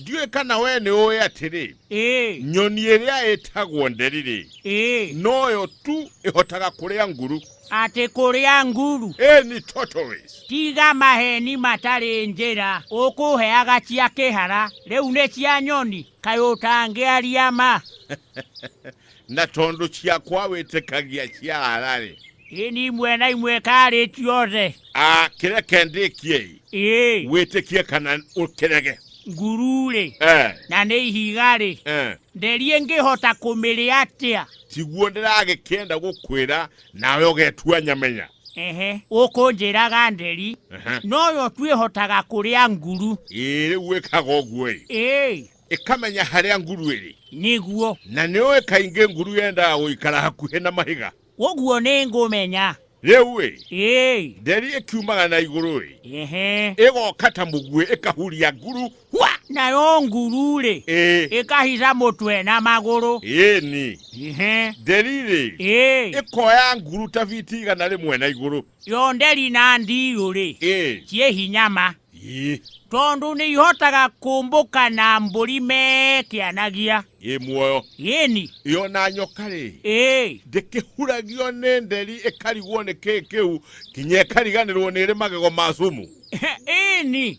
ndiũĩ kana wee nĩ ũĩ atĩrĩ ĩĩ nyoni ĩrĩa ĩtagwo nderire ĩĩ noyo tu ĩhotaga kũrĩa nguru atĩ kũrĩa nguru ĩĩ ni tortoise tiga maheni matarĩ njĩra ũkũheaga cia kĩhara rĩu nĩ cia nyoni kaĩ ũtangĩaria ma na tondũ ciakwa wĩtĩkagia cia hararĩ ĩ ni imwe na imwe karĩ ciothe a kĩreke ndĩkiei ĩ wĩtĩkie kana ũkĩrege nguru-rĩ eh, na nĩ ihiga-rĩ eh. nderie ngĩhota kũmĩrĩa atĩa tiguo ndĩragĩkĩenda gũkwĩra nawe ũgetua nyamenya ehe ũkũnjĩraga nderi Ehe. noyo twĩhotaga kũrĩa nguru ĩĩ rĩu wĩkaga ũguo-ĩ ĩ ĩkamenya harĩa nguru ĩrĩ nĩguo na nĩũĩ kaingĩ nguru yendaga gũikara hakuhĩ na mahiga ũguo nĩ ngũmenya rĩu-ĩ ĩĩ nderi ĩkiumaga na igũrũ-ĩ ehe ĩgoka ta mũguĩ ĩkahuria nguru hwa nayo nguru-rĩ ĩĩ ĩkahica mũtwe na magũrũ ĩni ehe nderi-rĩ ĩĩ ĩkoya nguru ta biti igana rĩmwe na igũrũ Cionde rĩ na ndiirũ-rĩ, ciĩ hinya ma, tondũ nĩ ihotaga kũmbũka na mbũri mekĩanagia. Ĩ muoyo. Ĩni. Ĩ o na nyoka-rĩ, ndĩkĩhuragio nĩ nderi ĩkarigwo nĩ kĩĩ kĩu, nginya ĩkariganĩrwo nĩ ĩrĩ magego ma cumu. Ĩni.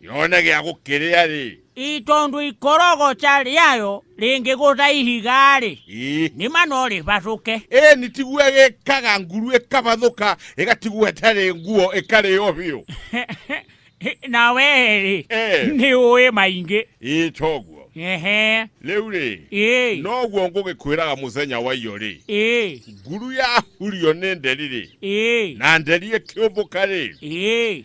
yone gĩa gũkĩrĩa-rĩ i tondũ ikorogoca rĩayo rĩngĩgũtha ihiga-rĩ nĩma no rĩbathũke ĩni tiguo gĩkaga nguru ĩkabathũka ĩgatigwo ĩtarĩ nguo ĩkarĩo biũ na wee-rĩ nĩ ũĩ maingĩ ĩ toguo Ehe. Rĩu rĩ. Noguo ngũgĩkwĩraga mũthenya wa iyo rĩ. Nguru yahurio nĩ nderi rĩ. Na nderi ĩkĩũmbũka rĩ.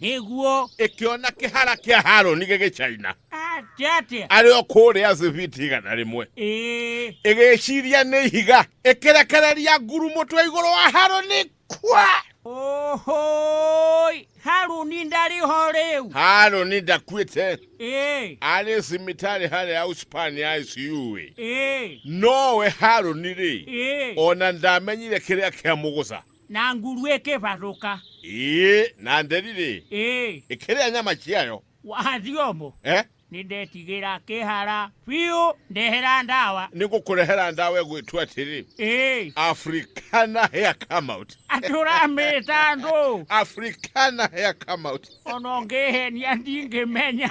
Nĩguo. Ĩkĩona kĩhara kĩa Harũni gĩgĩcaina. Atĩa? Arĩ o kũrĩa Ziviti igana rĩmwe. Ĩgĩciria nĩ ihiga. Ĩkĩrekereria nguru mũtwe igũrũ wa Harũni. Kwa! Ohoi! Harũni ndarĩ ho rĩu. Harũni ndakuĩte. Arĩ cimitari harĩa Auspan ya ICU ĩ. Nowe Harũni rĩ. Ona ndamenyire kĩrĩa kĩamũgũca. Na ngulu ĩkĩvarũka. Ĩĩ, na nderire. Ĩĩ. Ĩkĩrĩa nyama ciayo. Wathiĩ ũmũ. Eh? Nĩndetigĩra kĩhara biũ. Ndehera ndawa. Nĩngũkũrehera ndawa ĩgwĩtwo atĩrĩ. Ĩĩ. Africana Hair Come Out. Atĩ ũramĩta andũ. Africana Hair Come Out. Ona ũngĩhenia ndingĩmenya.